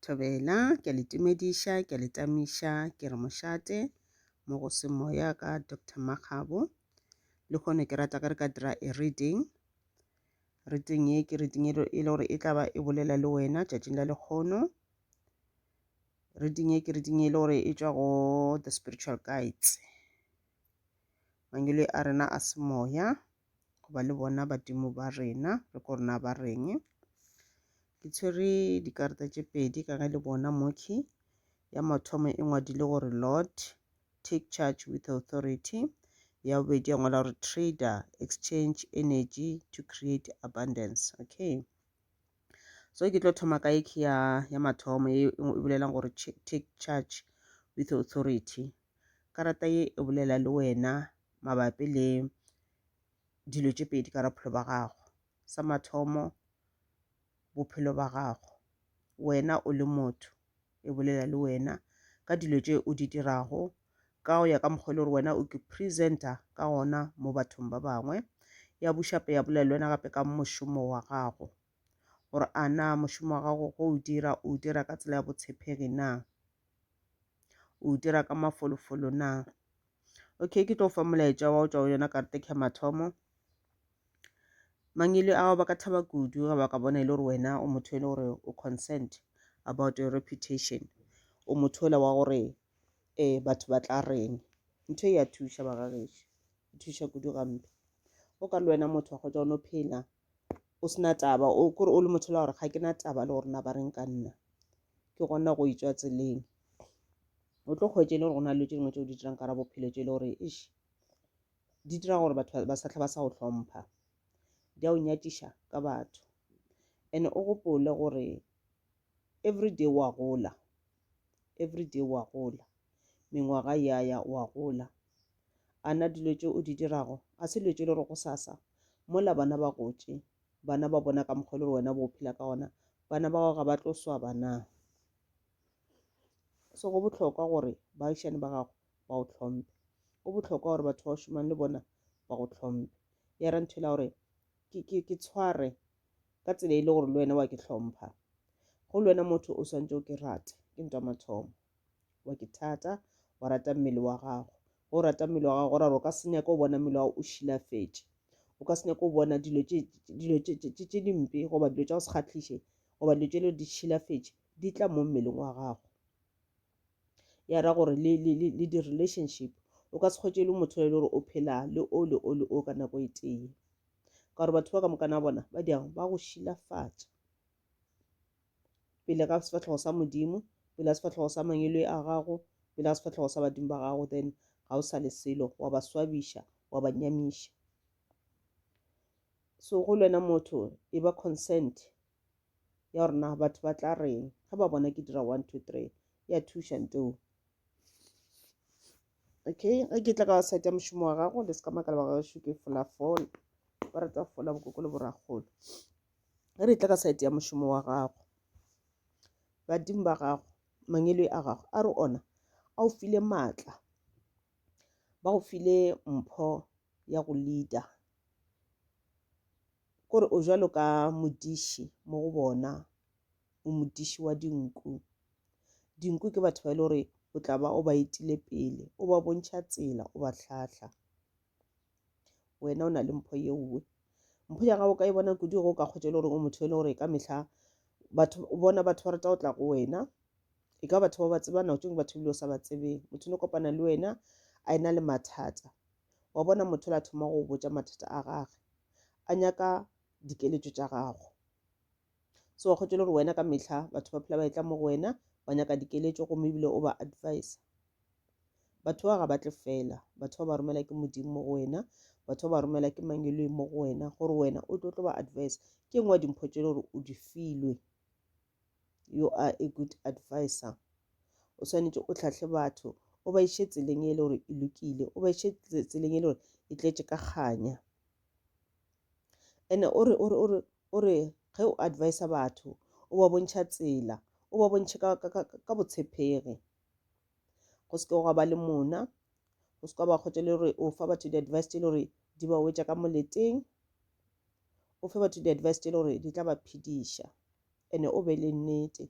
Thobela, ke a le tumediša, ke a le tamiša, ke re mošate mo go se moya ka Doctor Makgabo. Le kgone ke rata ka re ka dira a reading. Reading ye ke reading e le gore e tla ba e bolela le wena tšatšing la lekgono. Reading ye ke reading e le gore e tšwa go The Spiritual Guides, mangwele a rena a semoya. go ba le bona badimo ba rena re ko rena ba reng ke tshwere dikarata tše pedi ka ge le bona moki ya mathomo e ngwadile gore lord take charge with authority ya bobedi ya ngwala gore trader exchange energy to create abundance okay so ke tlo thoma ka eke ya ya mathomo e, e bolelang gore take charge with authority Karata ye e bolela le wena mabapi le dilo tše pedi ka bophelo ba gago. Sa mathomo, bophelo ba gago wena o le motho, e bolela le wena ka dilo tše o di dirago ka go ya ka mokgwa e le gore wena o present-a ka gona mo bathong ba bangwe. Ya bušape ya bolela le wena gape ka mošomo wa gago gore a na mošomo wa gago o o dira o dira ka tsela ya botshepegi na. o dira ka mafolofolo na okay ke tlo fa molaetša wa go tšwa go yona karate ke mathomo mangele ao ba ka thaba kudu ga ba ka bona e le gore wena o motho e le gore o consent about your reputation o motho ola wa gore um batho ba tla reng ntho e ya thuša bagagešo e thuša kudu gampe o ka le wena motho wa kgotsa o no phela o sena taba o kore o le motho la gore ga ke na taba le gore na ba reng ka nna ke gona go itswa tseleng o tlo kgwetse e le gore go na le tse dingwe tse o di dirang ka ra bophelo tse e le gore ish di dira gore batho ba satlha ba sa go hlompha di a o nyatiša ka batho and o gopole gore everyday wa gola everyday wa gola mengwaga ya ya wa gola A na dilo tše o di dirago ga se dilo tše le re gosasa mola bana ba gotše, bana ba bona ka mokgwa le wena bo phela ka gona, bana ba gago ga ba tlo swaba na? So go bohlokwa gore baagišane ba gago ba o tlhomphe. Go bohlokwa gore batho ba o šomang le bona ba go tlhomphe. Ya ra nthwela gore ke, ke, ke tshware ka tsela e le gore le wena wa ke tlhompha. Go le wena motho o swantse o ke rate, ke ntwa mathomo. wa ke thata wa rata mmele wa gago ge o rata mmele wa gago gore o ka se nyaka o bona mmele wa gago o šilafetše o ka se nyaka o bona dilo tše dimpe goba dilo tša go se kgatlhiše goba dilo tše le di šilafetše di tla mo mmeleng wa gago ya ra gore le di-relationship o ka se kgwetše le motho e le gore o phela le o le o le o ka nako e tee ka gore batho ba ka mokana bona ba diang ba go šilafatša pele ga sefatlhego sa modimo pele ga sefatlhego sa mangele a gago pele ga sefatlhego sa badimo ba gago then ga o sa le selo wa ba swabiša wa ba nyamiša so go lwena motho e ba consent ya gore na batho ba tla reng ga ba bona ke dira one two three ya thuša nteo okay ge ke tla ka wa site ya mošomo wa gago le se ka makala ba gago šuke fola fola ba rata fola bokoko le borakgolo ge re tla ka saete ya mošomo wa gago badimo ba gago mangelo a gago a re ona a o file maatla ba go file mpho ya go leader kore o jalo ka modiši mo go bona o modiši wa dinku dinku ke batho ba e le gore o tla ba o ba etile pele o ba bontšha tsela o ba tlhahla wena o na le mpho ye nngwe mpho ya gago ka e bona kudu go ka kgotse le gore o motho e le gore ka mehla batho o bona batho ba rata go tla go wena e ka batho ba ba tsebana o tšong batho ebile o sa ba tsebeng motho ne kopana le wena a ena le mathata wa bona motho la thoma go botša mathata a gage a nyaka dikeletšo tša gago so wa kgotse le gore wena ka mehla batho ba phela ba e tla mo go wena wa nyaka dikeletšo gomme ebile o ba advisa batho ba ga ba tle fela batho ba ba romela ke modimo mo go wena batho ba ba romela ke mang e mo go wena gore wena o tlo tlo ba advice ke ngwe dimpho tše le gore o di filwe you are a good advisor o swanetše o tlhatlhe batho o ba iše tseleng e le gore e lokile o ba iše tseleng e le gore e tletše ka kganya ene o re o re o re o re ge o advisa batho o ba bontšha tsela o ba bontšhe ka botshepegi go se ke gwa ba le mona go se ka ba kgotsa le gore o fa batho di-advice tse le gore di ba wetša ka moleteng o fe batho di-advice tse le gore di tla ba phediša ene o be le nnete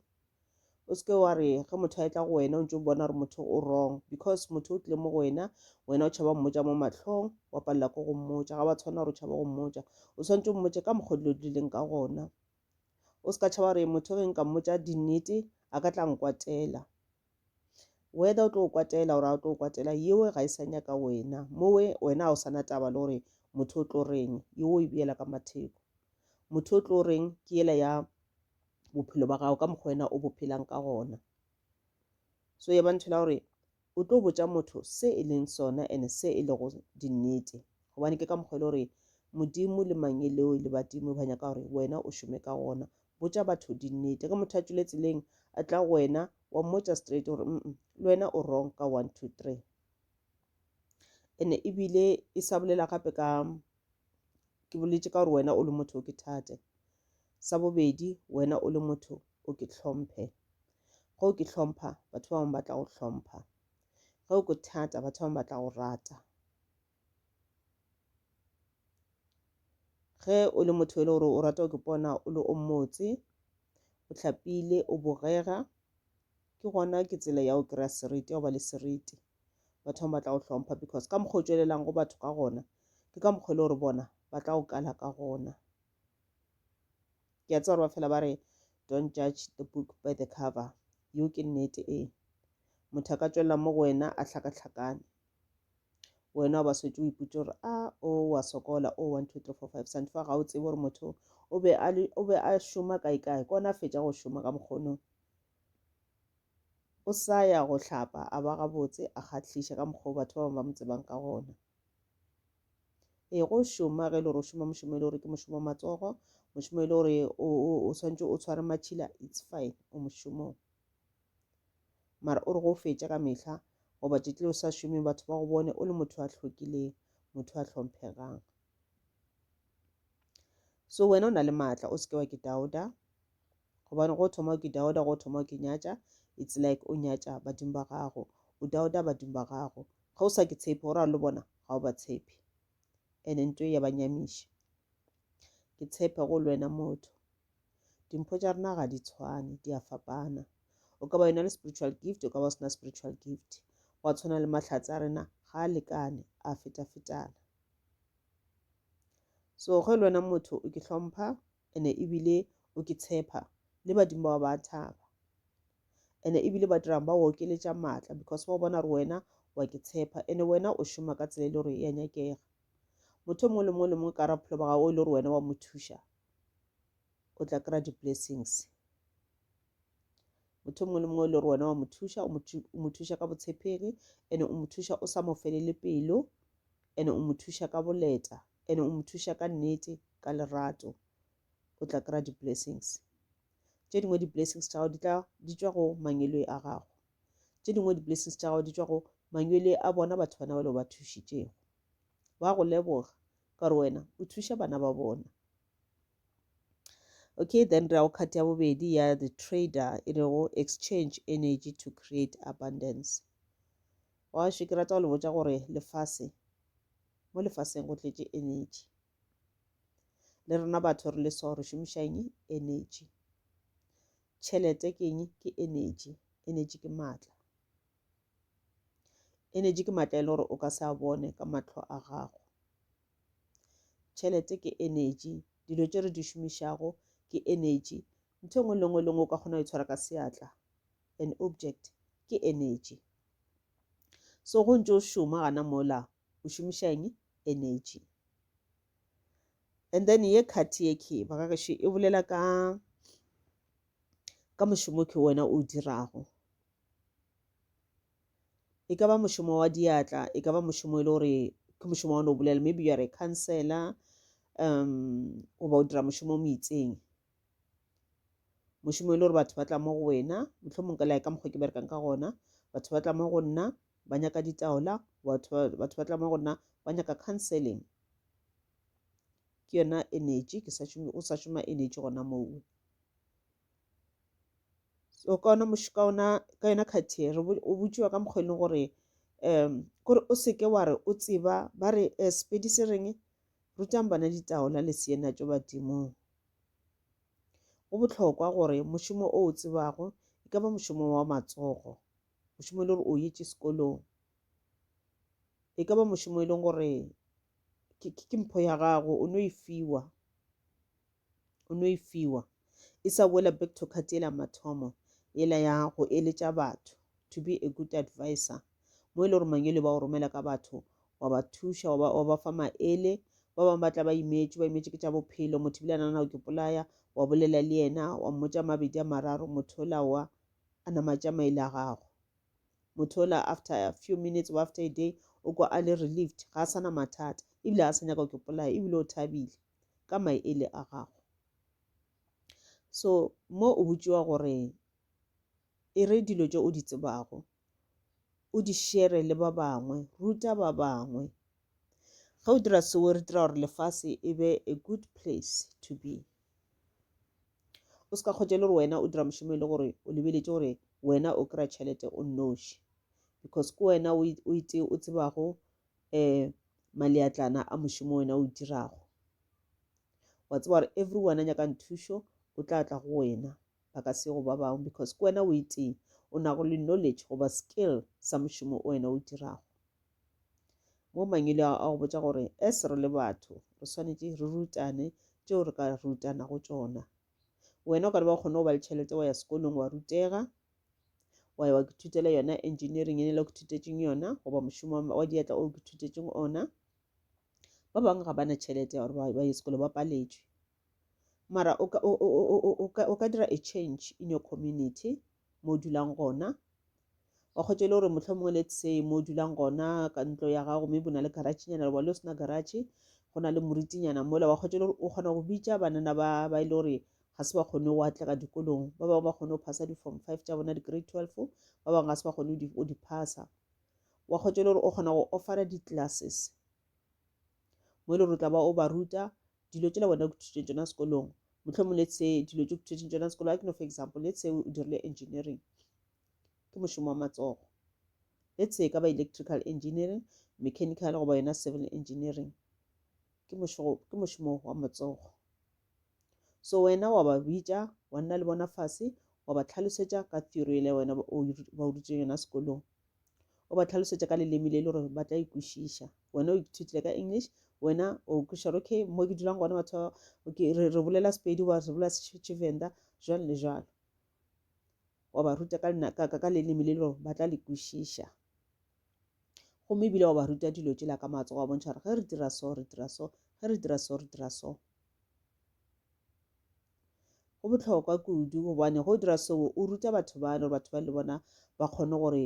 o se ke wa re ge motho a etla go wena o ntse o bona gore motho o wrong because motho o tlile mo go wena wena o tšhaba mmotsa mo matlhong wa palela ko go mmotsa ga ba tshwana gore o tšhaba go mmotsa o tshwanetse o mmotse ka mokgwa dilo di leng ka gona O se ka tšhaba gore motho ge nka mmotša dinnete a ka tla nkwatela. Whether o tlo o kwatela gore a o tlo o kwatela yewe ga e sa nyaka wena. Mowe wena ga o sana taba le gore motho o tlo reng yewe o e beela ka matheko. Motho o tlo reng ke yela ya bophelo ba gago ka mokgwa wena o bo phelang ka gona. So ya ba ntho la gore O tlo botša motho se e leng sona ene se e lego dinnete. Gobane ke ka mokgwa e le gore Modimo le Mangeloi le badimo ba nyaka gore wena o šome ka gona. Botša batho dinnete. Ge motho a tšwile tseleng a tla go wena, wa mmotša straight gore, Umm, le wena o wrong ka one, two, three. Ene ebile e sa bolela gape ka Ke boletše ka gore wena o le motho o ke thate. Sa bobedi, wena o le motho o ke tlhomphe. Ge o ke tlhompha, batho ba bangwe ba tla go tlhompha. Ge o ke thata, batho ba bangwe ba tla go rata. Ge o le motho e le gore o rata go ke pona o le o motse, o tlhapile, o bogega, ke gona ke tsela ya go kry-a seriti, ya go ba le seriti. batho bangwe ba tla go hlompha because ka mokgwa o tšwelelang go batho ka gona ke ka mokgwa e le gore bona ba tla go kala ka gona ke a tseba gore ba fela ba re don't judge the book by the cover yo ke nnete ee motho a ka tšwelela mo go wena a hlakahlakane wena o ba swetse o ipotse gore a ah, o oh, wa sokola o oh, one two three four five sante fa ga o tsebe gore motho o be a šoma kae kae kona a fetša go šoma ka mokgonong o sa ya go hlapa a ba gabotse a kgahliša ka mokgwa o batho ba bangwe ba mo tsebang ka gona ee go šoma ge e le gore o šoma mošomo e le gore ke mošomo wa matsogo mošomo e le gore o tshwanetse o tshware matšhila it's fine o mošomong mara o re go fetša ka mehla goba tšetle o sa šome batho ba go bone o le motho a hlokileng motho a tlhomphegang so wena o na le maatla o se ke wa ke dauda Gobane go thoma ke dauda, go thoma ke nyatša, it's like o nyatša badimo ba gago, o dauda badimo ba gago. Ge o sa ke tshepe, go ra lo bona ga o ba tshepe. Ene nto ya ba nyamiša. Ke tshepe go lwena motho. Dimpho tša rena ga di tshwane, di a fapana. O ka ba yona le spiritual gift, o ka ba o sena spiritual gift. Gwa tshwana le mahlatse a rena ga a lekane, a feta-fetana. So ge lwena motho o ke hlompha, Ene ebile o ke tshepa le badimo ba ba thaba ene ebile ba dirang ba okeletša maatla because ba bona gore wena wa ke tshepa ene wena o šoma ka tsela e le gore ya nyakega motho mongwe le mongwe le mongwe ka ra bophelo ba gago e le gore wena wa mo thuša o tla kry-a di-blessings motho mongwe le mongwe e le gore wena wa mo thuša o mo thuša ka botshepegi ene o mo thuša o sa mo felele pelo Ene o mo thuša ka boleta. Ene o mo thuša ka nnete, ka lerato. O tla kry-a di-blessings. Tše dingwe di-blessings tša gago di tla di tšwa go mangwelwe a gago. Tše dingwe di-blessings tša gago di tšwa go mangwelwe a bona batho bana bale o ba thušitšego. Ba go leboga ka gore wena o thuša bana ba bona. Okay, then re ya go khat ya bobedi ya the trader e rego exchange energy to create abundance. Gaešo ke rata go le botša gore lefase, mo lefaseng go tletše energy. Le rena batho re le so re šomiša eng? Energy. Tšhelete ke eng? Ke energy. Energy ke maatla. Energy ke maatla e le gore o ka se a bone ka matlho a gago. Tšhelete ke energy. Dilo tše re di šomišago ke energy. Ntho engwe le engwe le engwe o ka kgona go itshwara ka seatla. An object ke energy. So go ntse o šoma gana mola o šomiša eng? Energy. And then ye khathi ye khe ba ka gešo e bolela ka ka mošomo ke wena o dirago e ka ba mošomo wa diatla e ka ba mošomo e le gore ke mošomo wa one o bolela maybe you are a counselor um goba o dira mošomo mo itseng mošomo e le gore batho ba tla mo go wena mohlomong ka lae ka mokgwa ke berekang ka gona batho ba tla mo go nna ba nyaka ditaola batho ba tla mo go nna ba nyaka counseling ke yona energy ke sa šome o sa šoma energy gona moo so ka ona ka ona ka yona khathi re o botšiwa ka mokgwa e leng gore um kore o seke wa re o tseba ba re um sepedi se reng rutang bana ditaola le seena tšo badimong Go bohlokwa gore mošomo o o tsebago, e ka ba mošomo wa matsogo, mošomo e le gore o yetše sekolong, e ka ba mošomo e leng gore ke mpho ya gago o no e fiwa o no e fiwa e sa boela back to card ela mathomo ela ya go eletša batho to be a good advisor mo e le gore mangele ba o romela ka batho wa ba thuša wa ba, wa ba fa maele ba bangwe ba tla ba imetše ba imetše ke tša bophelo motho bile a nana o ke polaya wa bolela le yena wa mmotša mabedi a mararo motho ola wa a namatša maele a gago motho ola after a few minutes or after a day o kwa a le relieved ga a sana mathata ebile a sa nyaka o ke polaya ebile o thabile ka maele a gago so mo o botšiwa gore e re dilo tše o di tsebago o di shere le ba bangwe ruta ba bangwe ge o dira seo re dira gore lefase e be a good place to be o se ka kgotse le gore wena o dira mošomo e le gore o lebeletše gore wena o kry-a tšhelete o nnoši because ke wena o itse o tsebago um maleatlana a mošomo wena o dirago wa tseba gore everyone a nyakang thušo o tla tla go wena ba ka se go ba bangwe because ke wena o itee o nago le knowledge goba skill sa mošomo o wena o dirago mo mangwele a go botša gore as re le batho re swanetše re rutane tšeo re ka rutanago tšona wena o ka re ba kgone go ba le tšhelete wa ya sekolong wa rutega wa ya wa kithutela yona engineering e ne le go thutetšeng yona goba mošomo wa diatla o ke thutetšeng ona ba bangwe ga ba na tšhelete ya gore ba ye sekolo ba paletšwe Mara o ka, o, o, o, o, o ka, o ka dira a change in your community, mo o dulang gona. Wa kgwetša e le gore mohlomongwe let's say mo o dulang gona ka ntlo ya gago maybe o na le garachenyana goba le o sena garache, go na le moritinyana mola. Wa kgwetša e le gore o kgona go bitša banana ba, ba e le gore ga se ba kgone go atlega dikolong. Ba bangwe ba kgone go phasa di-form five tša bona, di-grade twelve, ba bangwe ga se ba kgone go di, go di phasa. Wa kgwetša e le gore o kgona go offera di-classes mo e le gore o tla ba o ba ruta dilo tšela wena o kuthušeng tšona sekolong mohlomong let's say dilo tše kuthušeng tšona sekolo a ke no for example let's say o dirile engineering ke mošomo wa matsogo let's say ka ba electrical engineering mechanical goba yona civil engineering ke mošomo wa matsogo so wena wa ba bitša wa nna le bona fase wa ba tlhalosetša ka theory ele wena ba o ruteng yona sekolong o ba tlhalosetša ka leleme le e le gore ba tla ikwešiša wena o ithutile ka english wena o kwešiša gore okay mo ke dulang gona batho okay re, re bolela sepedi ba re bolela tshivenda jwalo le jwalo wa ba ruta ka, ka, ka, ka leleme le e le gore ba tla le kwešiša gomme ebile wa ba ruta dilo tšela ka matsogo wa bontšha gore ge re dira so re dira so ge re dira so re dira so Go bohlokwa kudu gobane go dira seo o ruta batho bana gore batho ba le bona ba kgone gore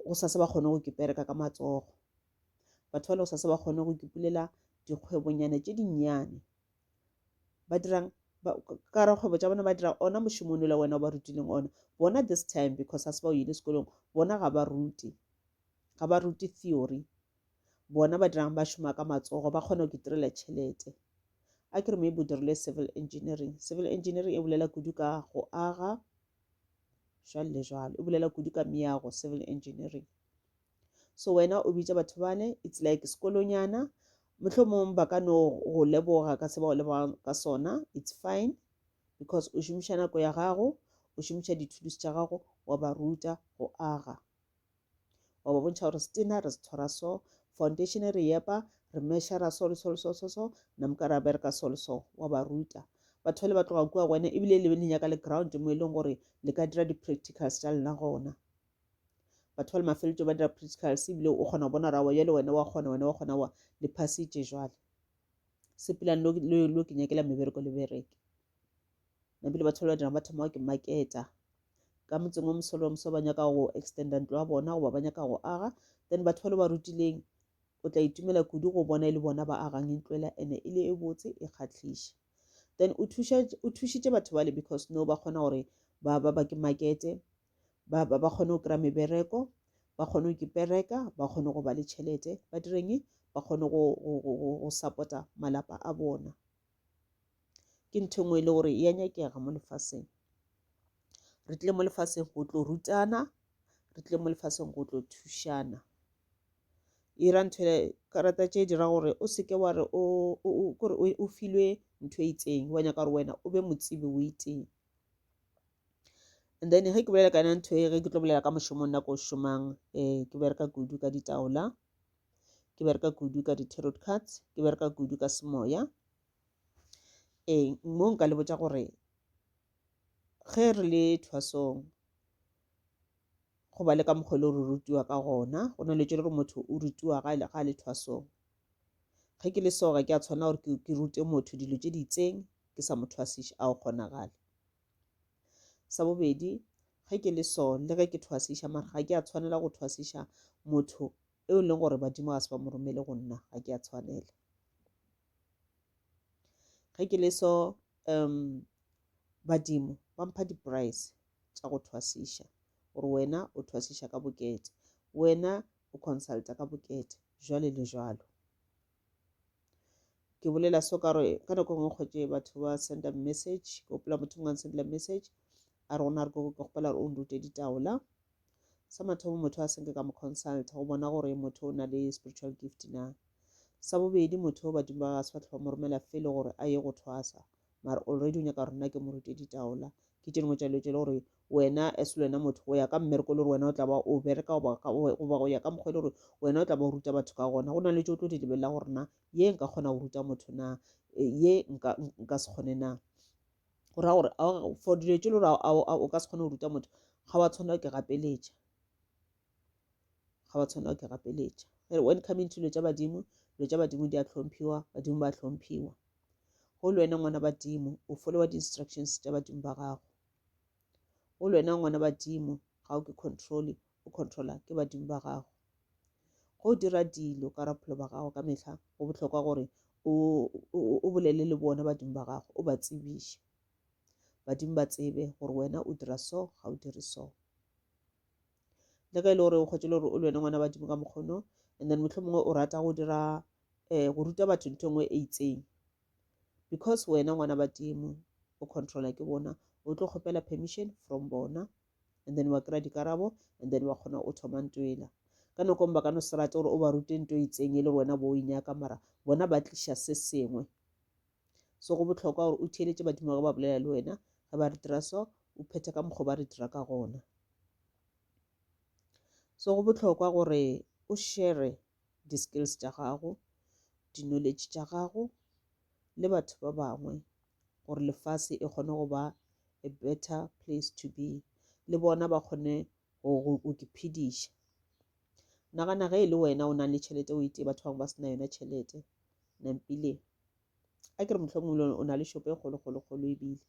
go sase ba kgone go kipereka ka matsogo. Batho ba le go sase ba kgone go kipulela dikgwebonyana tše dinnyane. Ba dirang ka re kgwebo tša bona ba dira ona mošomo le wena o ba rutileng ona bona this time because ga se ba o ile sekolong bona ga ba rute ga ba rute theory bona ba dirang ba šoma ka matsogo ba kgona go itirela tšhelete a ke re maybe o dirile civil engineering civil engineering e bolela kudu ka go aga jalo le jalo e bolela kudu ka meago civil engineering so wena o bitša batho bane it's like sekolonyana mohlomong ba ka no go leboga ka se ba go leboga ka sona it's fine because o šomiša nako ya gago o šomiša dithudusi tša gago wa ba ruta go aga wa ba bontšha gore setina re se tshwara so foundation e re epa re meshara so le so le so so so namka ra bereka so le so wa ba ruta batho ba le ba tloga kua go wena ebile le be le nyaka le ground mo e leng gore le ka dira di-practicals tša lena gona batho ba le mafeletso ba dira practicals ebile o kgona go bona rawa jale wena wa kgona wena wa kgona wa le phasitše jwale sepelane lo ke nyakela mebereko le bereke na bile batho ba dira ba thoma ke marketa ka motseng wa mosolo wa moso ba nyaka go extenda ntlo ya bona goba ba nyaka go aga then batho ba le ba rutileng o tla itumela kudu go bona e le bona ba agang e ntloela ene e le e botse e kgatlhiša then o thušitše batho bale because no ba kgona gore ba ba ba ke markete ba ba ba kgone go kry-a mebereko ba kgone go kipereka ba kgone go ba le tšhelete ba direng ba kgone go support-a malapa a bona ke ntho engwe e le gore ya nyakega mo lefaseng re tle mo lefaseng go tlo rutana re tle mo lefaseng go tlo thušana e ra ntho karata tše dira gore o seke wa re kore o filwe ntho e itseng wa nyaka gore wena o be motsibi o iteng and then ge ke bolela ka yona ntho e ge ke tlo bolela ka mošomong nako o šomang um ke bereka kudu ka ditaola ke bereka kudu ka di-tarot cards ke bereka kudu ka semoya ee mo nka le botša gore ge re le thwasong go ba le ka mokgwa le re rutiwa ka gona go na le tšo le gore motho o rutiwa ga a le thwasong ge ke le soga ke a tshwana gore ke rute motho dilo tše di itseng ke sa mo thwasiše a o kgonagale Sa bobedi, ge ke le so le ge ke thwasiša mara ga ke a tshwanela go thwasiša motho eo e leng gore badimo ga se ba mo romele go nna ga ke a tshwanela ge ke le so um badimo ba mpha di-price tša go thwasiša gore wena o thwasiša ka bokete wena o consulta ka bokete jwale le jwalo ke bolela so ka gore ka nako e nngwe kgwetše batho ba senda message ke gopola motho mongwe a sendela message a re gona re ke gopola gore o nrute ditaola sa mathomo motho a senke ka mo consulta go bona gore motho o na le spiritual gift na sa bobedi motho o badimo ba ga se ba tlhoba mo romela fele gore a ye go thwasa mara already o nyaka gore nna ke mo rute ditaola ke tše dingwe tša dilo tše le gore wena as le wena motho go ya ka mmereko le gore wena o tla ba o bereka goba go ya ka mokgwa e le gore wena o tla ba o ruta batho ka gona go na le tso tlo di lebelela gore na ye nka kgona go ruta motho na e, ye nka se kgone na go raya gore for dilo tse le gore o ka se kgone go ruta motho ga wa tshwanela ke gapeletša ga wa tshwanela ke gapeletša when coming to dilo tša badimo dilo tša badimo di a tlhomphiwa badimo ba tlhomphiwa go le wena ngwana badimo o followa di-instructions tša badimo ba gago o lwena ngwana badimo ga o ke controle o controla ke badimo ba gago go dira dilo ka rapholo ba gago ka mehla go bohlokwa gore o bolele le bona badimo ba gago o ba tsebiše badimo ba tsebe gore wena o dira so ga o dire so le ge e le gore o kgwetse le gore o lwena ngwana badimo ka mokgono and then motlho mongwe o rata go dira um go ruta batho ntho e nngwe e itseng because wena ngwana badimo o controla ke bona o tlo kgopela permission from bona and then wa kry-a dikarabo and then wa kgona o thoma nto ela ka nakong ba ka no se rate gore o ba rute nto e itseng e le gore wena bo o e nyaka mara bona ba tliša se sengwe so go botlhokwa gore o theeletše badimo ge ba bolela le wena ge ba re dira so o phethe ka mokgwa ba re dira ka gona so go botlhokwa gore o shere di-skills tša gago di-knowledge tša gago le batho ba bangwe gore lefase e kgone go ba a better place to be le bona ba kgone go iphediša nagana ge e le wena o nang le tšhelete o itee batho bangwe ba se na yona tšhelete nampile a ke re mohlomong le o na le shopo e kgolokgolokgolo ebile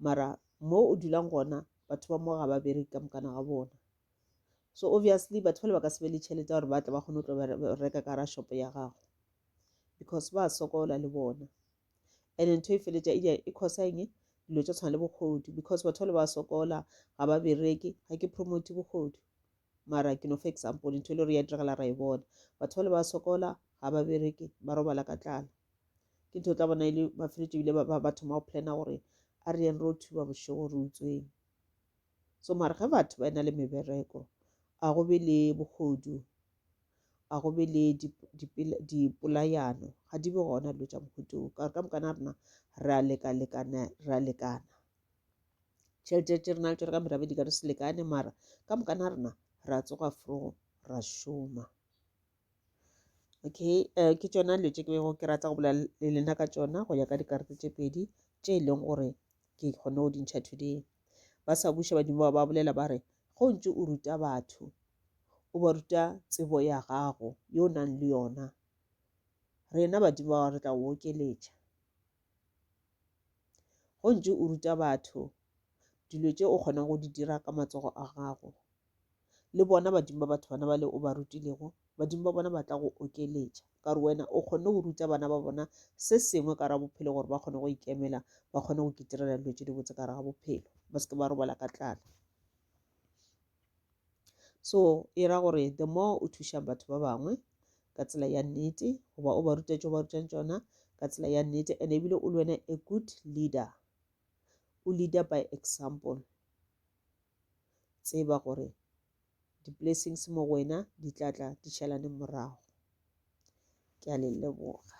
mara mo o dulang gona batho ba mo ga ba bereke ka mokana ga bona so obviously batho bale ba ka se be le tšhelete ya gore ba tle ba kgone go tlo ba re- reka ka ra shopo ya gago because ba sokola le bona and ntho e feletša e di- e causa eng dilo tša tshwana le bogodu because batho bale ba sokola ga ba bereke ga ke promote bogodu mara ke no fa example ntho e le gore ya diragala ra e bona batho bale ba sokola ga ba bereke ba robala ka tlala ke ntho o tla bona e le mafeletšo ebile ba- ba ba thoma go plana gore a re yeng ro thuba bošego re utsweng so mare ge batho ba ena le mebereko a go be le bogodu a go be le dipolayano ga di be gona dilo tša mohuto o ka re ka mokana rena re a lekalekana re a lekana tšhelete tše rena le tsone ka merabe di ka re se lekane mara ka mokana rena re a tsoga fro ra šoma okay uh, ke tšona dilo tše ke bego ke rata go bolela le lena ka tšona go ya ka dikarete tše pedi tše e leng gore ke kgone go dintšha today ba sa buša badimo ba ba bolela ba re go ntse o ruta batho o ba ruta tsebo ya gago yo o nang le yona rena badimo ba re tla okeletša go ntse o ruta batho dilo tše o kgonang go di dira ka matsogo a gago le bona badimo ba batho bana ba le o ba rutilego badimo ba bona ba tla go okeletša ka gore wena o kgonne go ruta bana ba bona se sengwe ka ra bophelo gore ba kgone go ikemela ba kgone go kitirela dilo tse di botse ka ra ga bophelo ba seke ba robala ka tlala so e ra gore the more o thuša batho ba bangwe ka tsela ya nnete goba o ba ruta tšo ba rutang tsona ka tsela ya nnete and ebile o le wena a good leader o leader by example tseba gore di-blessings mo go wena di tla tla di šalaneng morago ke a le leboga